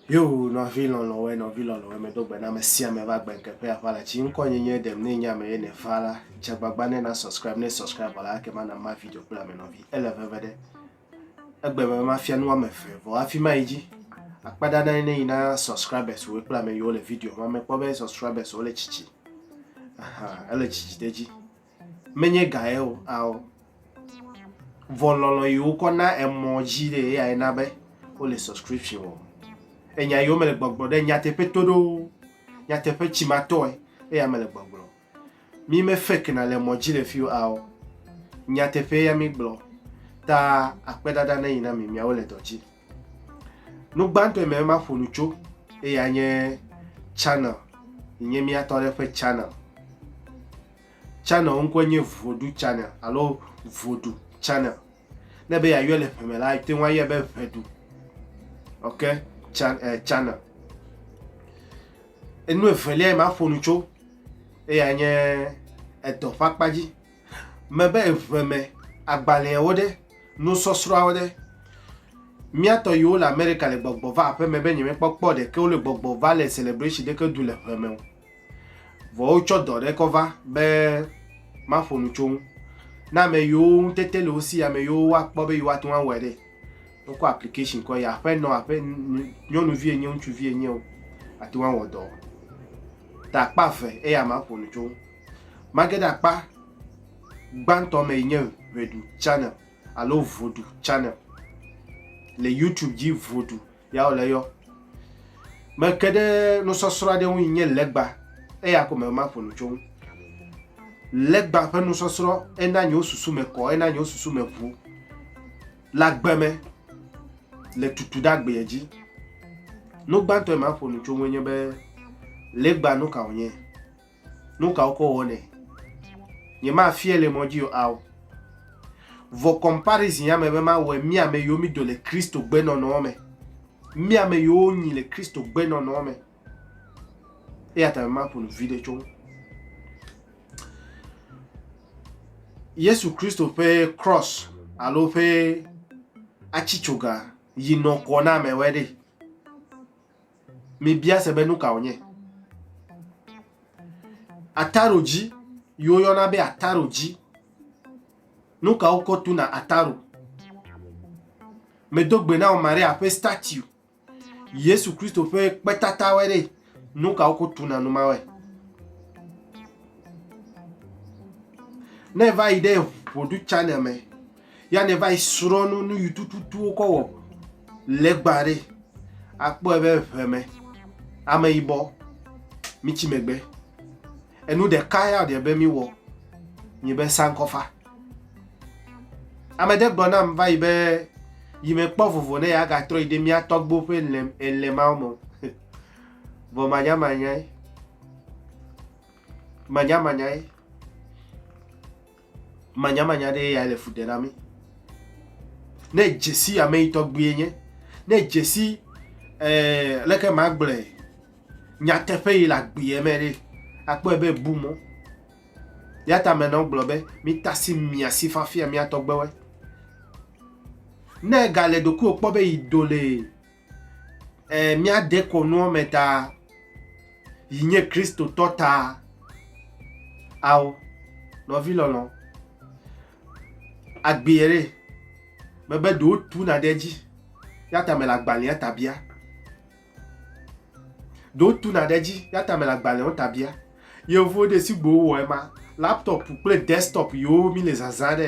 Yo nɔvi lɔlɔ̃wɔe nɔvi lɔlɔ̃wɔe medo gbe na ame sia ame va gbe ŋkeƒe aʋa la tsi ŋkɔ nye nye ɖem ne nye ame ye ne va la dze agbagba ne na subscribe ne subscribe la ake ma na ma video kple ame nɔvi ele veve ɖe Egbe me mafia nu woame eve vɔ hafi mayi dzi. Akpa ɖa na ne yi na subscribers wo kple ame yiwo le video ma mekpɔ be subscribers wo le tsitsi. Aha, ele tsitsi ɖe dzi. Menye ga ye o, ao. Vɔ lɔlɔ yi wokɔ na emɔ dzi ɖe eya ye na be wo le subscription o. Enya yiwo mele gbɔgblɔ ɖe nyateƒe to ɖo, nyateƒe tsimatɔe eya mele gbɔgblɔ. Mi me fek na le mɔ dzi le fi o ao. Nya teƒe ya mi gblɔ. Ta akpe dada ne yi na mi miawo le dɔ dzi. Nu gbãtɔ me ma ƒonu tso eya nye channel. Yi nye mia tɔ ɖe ƒe channel. Channel ŋkɔ nye vodu channel alo vodu channel. Ne be ya yɔ le ƒeme la, te ŋu ayɔ be ʋedu. Ok, chan, eh, channel. Enu evelia yi maƒo nu tso eya nye edɔ ƒe akpa dzi. Mebe eŋe me agbalẽawo ɖe, nusɔsrɔ̃awo ɖe. Mía tɔ yiwo le Amerika le gbɔgbɔ va aƒe me be nyemekpɔ kpɔ ɖeke wole gbɔgbɔ va le celebration ɖeke du le ŋe me o. Vɔ wotsɔ dɔ ɖe kɔ va be maƒo nu tso ŋu. Na ame yiwo ŋutete le wo si, ame yiwo woakpɔ be yewoate ŋu awɔe ɖe. wokɔ application kɔ yi aƒenɔ aƒe nyɔnuvi enye ŋutsuvi enye o ate ŋu awɔ dɔ ta akpa eve eya ma ƒo nu tso mage ɖe akpa gbãtɔ me yi nye ʋeɖu channel alo vodu channel le youtube dzi vodu Ya wòle yɔ. Meke ɖe nusɔsrɔ̃ aɖe ŋu yi nye legba, eya ko me maƒo nu tso ŋu. Legba ƒe nusɔsrɔ̃ ena nye susu me kɔ, ena nye susu me ʋu le agbe me le tutu ɖe agbea dzi. Nu gbãtɔ yi maƒo nu tso ŋu nye be legba nu ka wònye. Nu ka wokɔ wɔnɛ? Nyemafiae le mɔ dzi o ao. Vɔ comparison ame be mawɔe mí ame yiwo mí do le Kristo gbenɔnɔ me. Mí ame yiwo nyi le Kristo gbenɔnɔ me. Eya ta maƒo nu vi ɖe tso ŋu. Yesu Kristo ƒe cross alo ƒe atsitsoga yi nɔ kɔ na amewɔe ɖe. mebia se be nu ka wònye. Ataro dzi, yi woyɔna be ataro dzi. Nu ka wokɔ tuna ataro? Medo gbe na wò Maria ƒe statue. Yesu Kristo ƒe kpetatawe ɖe, nu ka wokɔ tuna nu mawe? Ne va yi ɖe ʋuɖu channel me, ya ne va yi srɔ̃ nu nu yi tututu wokɔ wɔ legba ɖe akpɔe be ʋeme ameyibɔ mitsi megbe enu ɖeka ya ɖe be miwɔ nye be sankɔfa ame ɖe gblɔ nam va yi be yi mekpɔ vovo ne yeagatrɔ yi ɖe mía tɔgbo ƒe lem elemawo me vɔ manyamanyae manyamanyae Manyamanya ɖee yae le fu ɖe na mí. Ne dzesi ame yi tɔgbie nye, ne dzesi eh, leke magblɔe, nyateƒe yi le agbeɛ me ɖe, akpɔe be bu mɔ. Ya ta me nɔ gblɔ be mítasi mia si fafia mía tɔgbewe. Ne gale ɖokuiwo kpɔ be yi do le eh, míade kɔnuɔ me ta yi nye kristotɔ ta ao nɔvi lɔlɔ agbee ɖe mebe ɖewo tuna ɖe edzi ya ta mele agbalẽa ta bia ɖewo tuna ɖe edzi ya ta mele agbalẽwo ta bia yevu ɖe si gbo wɔ ema laptop kple desktop yiwo mi le zazã ɖe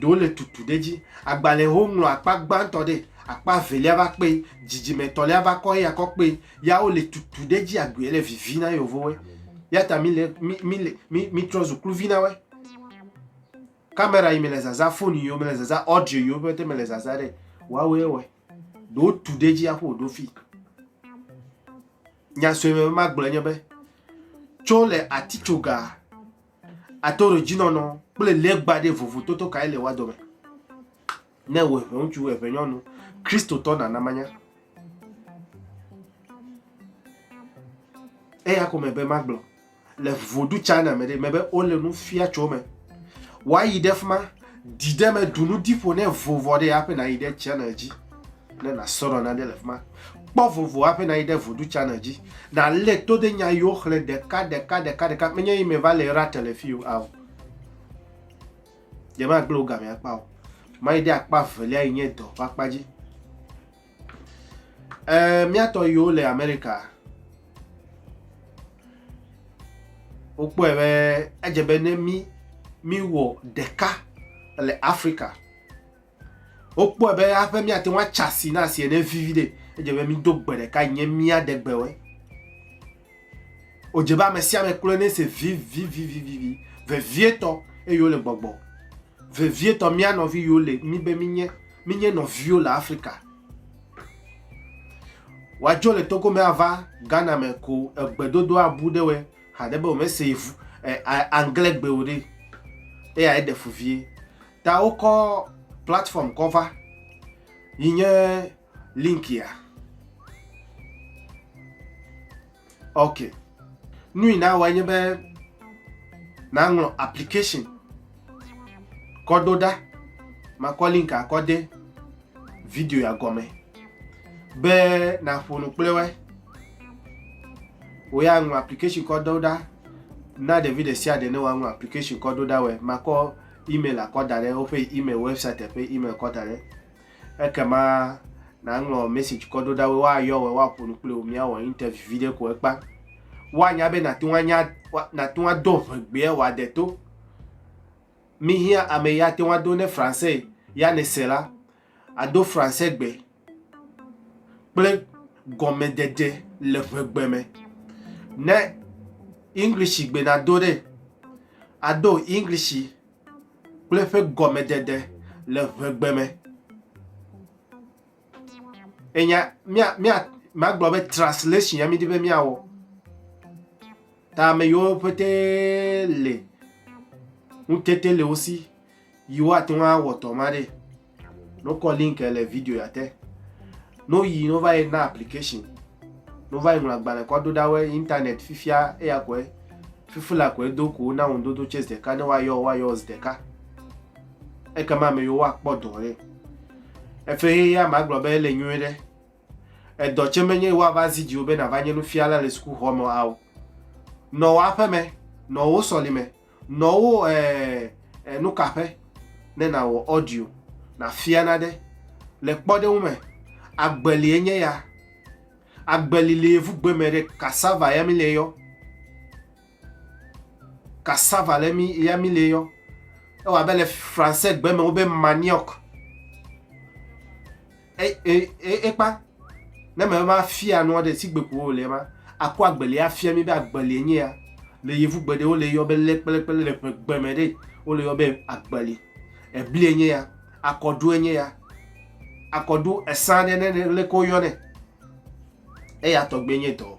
ɖewo le tutu ɖe edzi. Agbalẽ yi woŋlɔ akpa gbãtɔ ɖe, akpa evelia va kpe, dzidzime etɔ̃lia va kɔ eya kɔ kpe, ya wole tutu ɖe edzi agbeɛ le vivi na yevowoe. Eya ta mí le, mí, mí le, mí, mítrɔ zu kluvi na woe. Kamera yi me le zazã, fon yi me le zazã, ɔɖio yiwo pɛtɛ me le zazã ɖe, woawoe wɔe. Ɖewo tu ɖe edzi aƒo wòɖo fii. Nya sue me be magblɔe nye be, tso le atitsogaa, ato ɖe dzinɔnɔ kple legba ɖe vovototo kae le wa dome ne wò ʋe ŋutsu ʋe ʋe nyɔnu kristotɔ nana manya eya ko me be magblɔ le vodu china me ɖe me be wole nu fia tso me woayi ɖe fi ma ɖi ɖe me ɖu nu di ƒo ne vovɔ ɖe ya ƒe nayi ɖe china dzi ne nasrɔ̃ nane le fi ma. Kpɔ vovo hafi nayi ɖe Voodoo Channel dzi nalé to ɖe nya yiwo xlẽ ɖeka ɖeka ɖeka ɖeka. Menye yi meva le rate le fi o ao. Yemagblẽ wo game akpa o. Mayi ɖe akpa velia yi nye dɔ ƒe akpa dzi. Ɛɛ míatɔ yiwo le Amerika wokpɔe be edze be ne mí míwɔ ɖeka le Afrika Wokpɔe be aƒe míate ŋu atsa asi na asi ene vivi ɖe. Edze be mído gbe ɖeka yi nye mía ɖe gbe wɔe. Wodze be ame sia ame kloe ne se vivivivivivi vevietɔ eye wole gbɔgbɔ. Vevietɔ mía nɔvi yiwo le mi be minye minye nɔviwo le Afrika. Wadzo le Togo me ava Ghana me ko egbedodo abu ɖe wɔe haɖe be womese anglɛ gbe o ɖe. Eya eɖe fu vie. Ta wokɔ platform kɔ va yi nye linkia. Ok. Nu yi nawɔe nye be naŋlɔ application kɔ ɖo ɖa. Makɔ linka kɔ de video ya gɔme be naƒo nu kple woe. Wò ya ŋlɔ application kɔ ɖo ɖa. Na ɖevi ɖe sia ɖe ne woaŋlɔ application kɔ ɖo ɖa wɔe. Makɔ email akɔ da ɖe woƒe email website ƒe email kɔ da ɖe ekema nàŋlɔ message kɔ ɖo ɖa wo woayɔ wɔ woaƒo nu kple wò míawɔ interview vi ɖe ko ekpa woanya be nàte ŋu anya nàte ŋu ado ʋegbea wòade to mihiã ame ya te ŋu ado ne français ya nèse la ado Fransegbe kple gɔmedede le ŋegbe me. Ne English gbe nado ɖe, ado English kple ƒe gɔmedede le ŋegbe me. Enya mia mia magblɔ be translation ya midi be miawɔ. Ta ame yiwo pete le ŋutete le wo si. yi woate ŋu awɔ tɔ ma ɖe nokɔ link le video ya te no yi no va yi na application no va yi ŋlɔ agbalẽ kɔ do ɖa wɔ internet fifia eya kɔe fifi la kɔe do ko na ŋun dodo chase ɖeka ne wa yɔ wa yɔ zi ɖeka eke ma me yɔ wa kpɔ dɔ ɖe efe ye ya ma gblɔ be ele nyuie ɖe edɔ tse menye wa va zi dziwo be na va nye nufiala le sukuxɔ me awo nɔ wa ƒe me nɔ wo sɔli me Nɔ wo ɛɛ nukaƒe ne nàwɔ audio nàfia naɖe. Le kpɔɖeŋu me, agbeli enye ya. Agbeli le yevugbe me ɖe cassava ya mi le yɔ. Cassava le mi ya mi le yɔ. Ewɔ abe le français gbe me wobe manioc. ekpa ne me va fia nua ɖe si gbeku wo le ma akɔ agbeli afia mi be agbeli nye ya le yevu gbe ɖe wo le yɔ be le kple kple le ƒe gbe me ɖe wo le yɔ be agbeli ebli nye ya akɔdu nye ya akɔdu esa ɖe ne le ko yɔ ne eya tɔgbe nye dɔ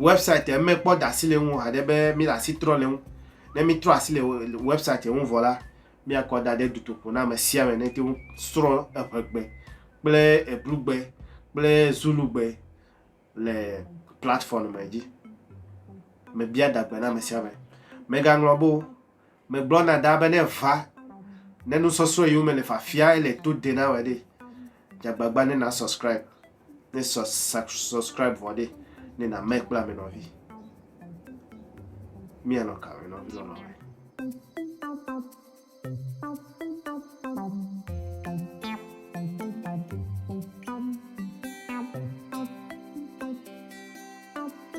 wɛbsite mekpɔ da asi le ŋu haɖe be míle asi trɔ le ŋu ne mítrɔ asi le wɛbsite ŋu vɔ la míakɔ da ɖe dutoƒo na ame sia ame nete ŋu srɔ̃ eŋegbe kple eblugbe kple zulugbe le platform me dzi mebia dagbe na ame sia ame megaŋlɔ bo Megblɔ na da be ne va, ne nusɔsrɔ̃ yiwo me le fafia ele to de na wɔ ɖe, dzagbagba ne na subscribe, ne subscribe vɔ ɖe, ne na me kple ame nɔvi. Mianɔ ka me nɔvi lɔlɔ.